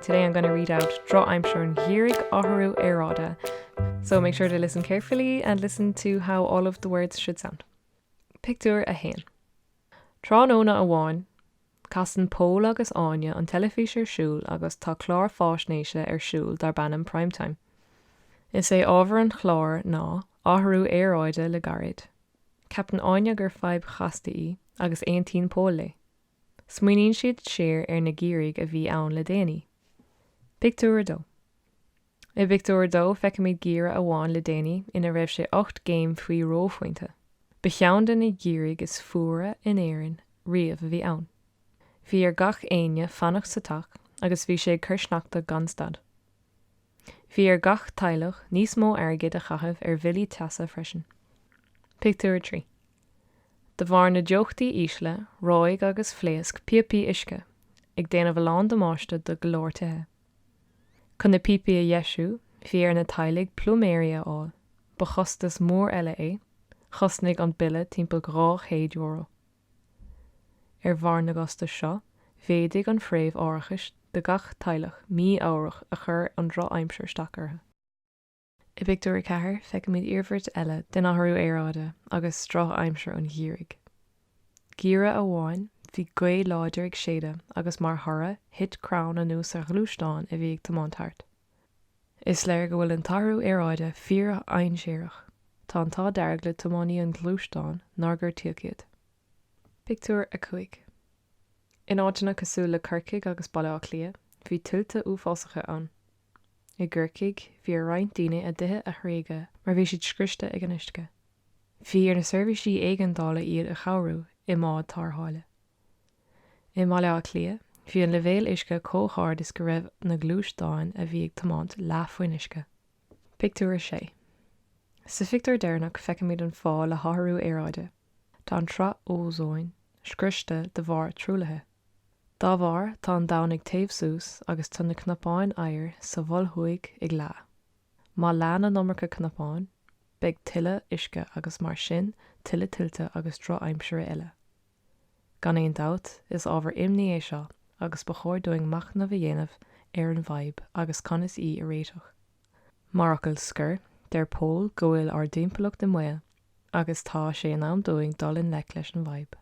Today I'm gonna read out Drochaimsir an Gheimhridh Athrú Aeráide So make sure to listen carefully and listen to how all of the words should sound. Pictiúr 1 Tráthnóna amháin, casann Pól agus Áine an teilifís ar siúl agus tá clár faisnéise ar siúl darb ainm Prime Time. Is é ábhar an chláir ná athrú aeráide le gairid. Ceapann Áine gur fadhb chasta í agus aontaíonn Pól léi. Smaoiníonn siad siar ar na geimhrí a bhí ann le déanaí. Pictiúr 2 I bpictiúr a dó feicimid geimhreadh amháin le déanaí ina raibh sé ocht gcéim faoi reophointe. Ba cheann de na geimhrí is fuaire in Éirinn riamh a bhí ann. Bhí ar gach éinne fanacht sa teach agus bhí sé ag cur sneachta gan stad. Bhí ar gach teaghlach níos mó airgid a chaitheamh ar bhillí teasa freisin. Pictiúr 3. De bharr na dteochtaí ísle, reoigh agus phléasc píopaí uisce, ag déanamh a lán damáiste do go leor tithe. Chun na píopaí a dheisiú, bhí ar na teaghlaigh pluiméirí a fháil, ba chostas mór eile é, chosnaigh an bille timpeall €200. Ar bharr na gcostas seo, mhéadaigh an phréimh árachais do gach teaghlach mí-ámharach a chuir an drochaimsir isteach orthu. I bpictiúr a ceathair feicimid iarmhairt eile den athrú aeráide agus drochaimsir an gheimhridh. Geimhreadh amháin bhí gaoth láidir ag séideadh agus mar thoradh thit crann anuas ar ghluaisteán a bhí ag tiomáint thart. Is léir go bhfuil an t-athrú aeráide fíordhainséarach, tá an t-ádh dearg le tiománaí an ghluaisteáin nár gortaíodh iad. Pictiúr 5 In áiteanna cosúil le Corcaigh agus Baile Átha Cliath bhí tuilte uafásacha ann. I gCorcaigh, bhí ar roinnt daoine a dtithe a thréigeadh mar bhí siad scriosta ag an uisce. Bhí ar na seirbhísí éigeandála iad a chabhrú i mbád tárrtháile. I mBaile Átha Cliath, bhí an leibhéal uisce chomh hard is go raibh na gluaisteáin a bhí ag tiomáint leath faoin uisce. Pictiúr 6 Sa phictiúr deireanach feicimid an fáth le hathrú aeráide, tá an tsraith ózóin scriosta de bharr truaillithe. Dá bharr, tá an domhan ag téamh suas agus tá na cnapáin oighir sa Mhol Thuaidh ag leá. Má leánn an iomarca cnapán, beidh tuilleadh uisce agus mar sin tuilleadh tuilte agus drochaimsire eile. Gan aon dabht, is ábhar imní é seo agus ba chóir dúinn machnamh a dhéanamh ar an bhfadhb agus conas í a réiteach. Mar fhocal scoir, deir Pól go bhfuil ár dtimpeallacht i mbaol agus tá sé in am dúinn dul i ngleic leis an bhfadhb.